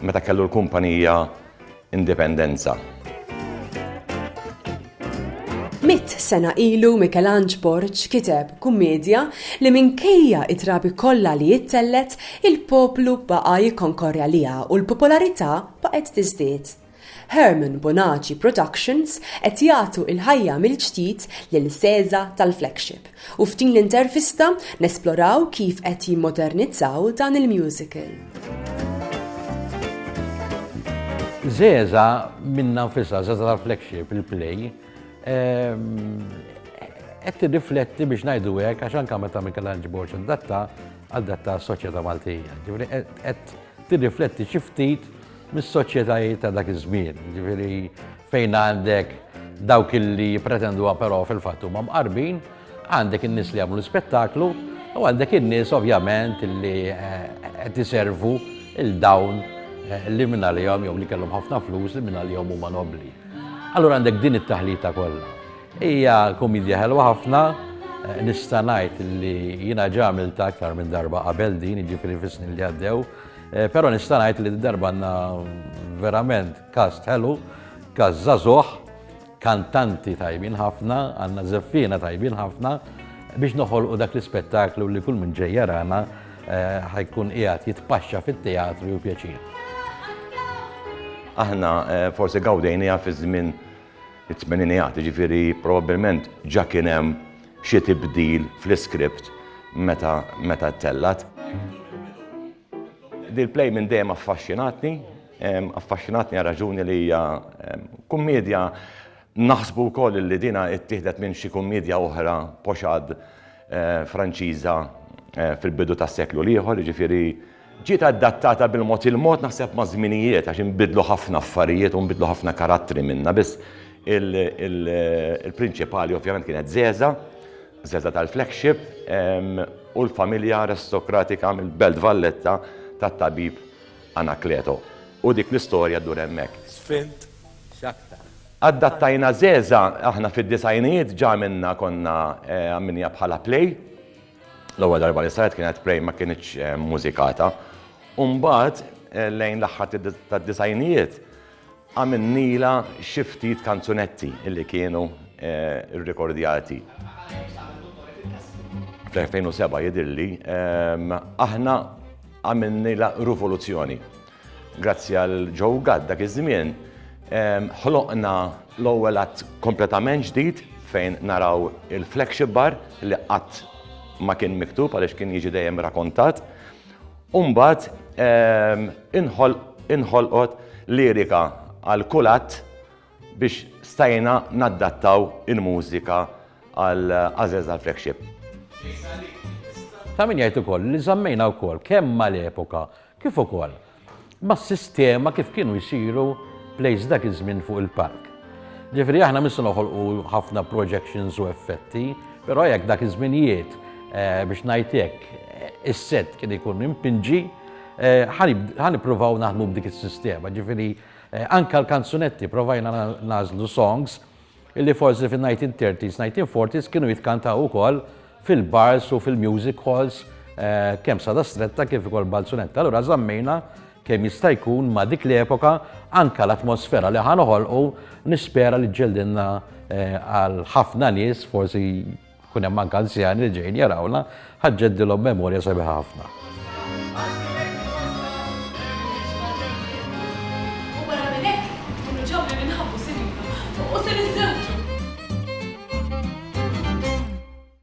Meta kellu l-kumpanija indipendenza. Mitt sena ilu Mikelanġ Borg kiteb kummedja li minkejja it-trabi kollha li jittellgħet, il-poplu baqa' jikkonkorrja liha u l-popolarità baqgħet tiżdied. Herman Bonaci Productions qed jagħtu il-ħajja mill-ġdid lil Sesa tal-Flagship u f'din l-intervista nesploraw kif qed jimmodernizzaw dan il-musical. Sesa minnha nfisha, Sesa tal-Flagship, il-play, qed tirrifletti biex ngħidu hekk għax anke meta Michelangelo Borg indatta, adatta s-soċjetà Maltija. Ġifieri qed tirrifletti xi ftit mis-soċjetajiet ta' dak iż-żmien, jiġifieri fejn għandek dawk illi jippretenduha però fil-fatt huma mqarbin, għandek in-nies li jagħmlu l-ispettaklu u għandek in-nies ovvjament illi qed iservu il dawn li minn għalihom jew li kellhom ħafna flus li minn għalihom huma nobbli. Allura għandek din it-taħlita kollha. Hija kumedja ħelwa ħafna, nista' ngħid li jiena ġa għamiltha aktar minn darba qabel din, jiġifieri fis-snin li għaddew, però nista' ngħid li d-darba għandna verament cast ħelu, cast żagħżugħ, kantanti tajbin ħafna, għandna żeffiena tajbin ħafna biex noħolqu dak l-ispettaklu li kull min ġej jarana ħajkun qiegħed jitpaxxa fit-teatru pjaċir. Aħna forsi gawdejniha fiż-żmien it-tmeninijat, jiġifieri probabbilment ġa kien hemm xi tibdil fl-iskript meta meta ttellgħet. Dil-play minn dejjem affaxxinatni, affaxxinatni għal raġuni li hija kummiedja naħsbu wkoll li dinha ttieħdet minn xi kummiedja oħra pochade Franċiża fil-bidu tas-seklu l-ieħor, jiġifieri, Ġiet adattata bil-mod il-mod naħseb maż-żminijiet għax inbidlu ħafna affarijiet u nbidlu ħafna karattri minnha biss il-prinċipali ovvjament kienet żgħeżagħ, żgħeżagħ tal-flagship u l-familja aristokratika mill-Belt Valletta tat-tabib Anakleto. U dik l-istorja ddur hemmhekk. Sfint x'aktar. Adattajna żgħeżagħ aħna fid-disgħinijiet ġa għamilna konna għamilniha bħala play. L-ewwel darba li saret kienet Pray ma kinitx mmużikata u mbagħad lejn l-aħħar tad-disgħinijiet għamilnilha xi ftit kanzunetti li kienu rrikordjati. Fl-2007 jidhirli aħna għamilnilha ruvoluzzjoni. Grazzi għal Joe Gatt dak iż-żmien ħloqna l-ewwel att kompletament ġdid fejn naraw il-flagship bar li qatt ma kien miktub għaliex kien jiġi dejjem rakontat. U mbagħad inħolqot lirika għal kull att biex stajna naddattaw il-mużika għal Għażeż għall-flagship. Ta' min jgħid ukoll li żammejna wkoll kemm mal-epoka kif ukoll mas-sistema kif kienu jsiru plays dak iż-żmien fuq il-palk. Ġifieri aħna mhux se noħolqu ħafna projections u effetti, però jekk dak iż-żminijiet biex ngħid hekk is-set kien ikun impinġi, ħa nippruvaw naħdmu b'dik is-sistema. Ġifieri anke l-kanzunetti provajna nagħżlu songs Illi forsi fin-1930s, 1940s kienu jitkantaw ukoll fil-bars u fil-music halls kemm Sada Stretta kif ukoll Balzunetta. Allura żammejna kemm jista' jkun ma' dik l-epoka anke l-atmosfera li ħa noħolqu nispera li ġġeldilna għal ħafna nies forsi Ikun hemm anke anzjani li ġejjin jarawna, ħa ġġeddilhom memorja sabiħa ħafna.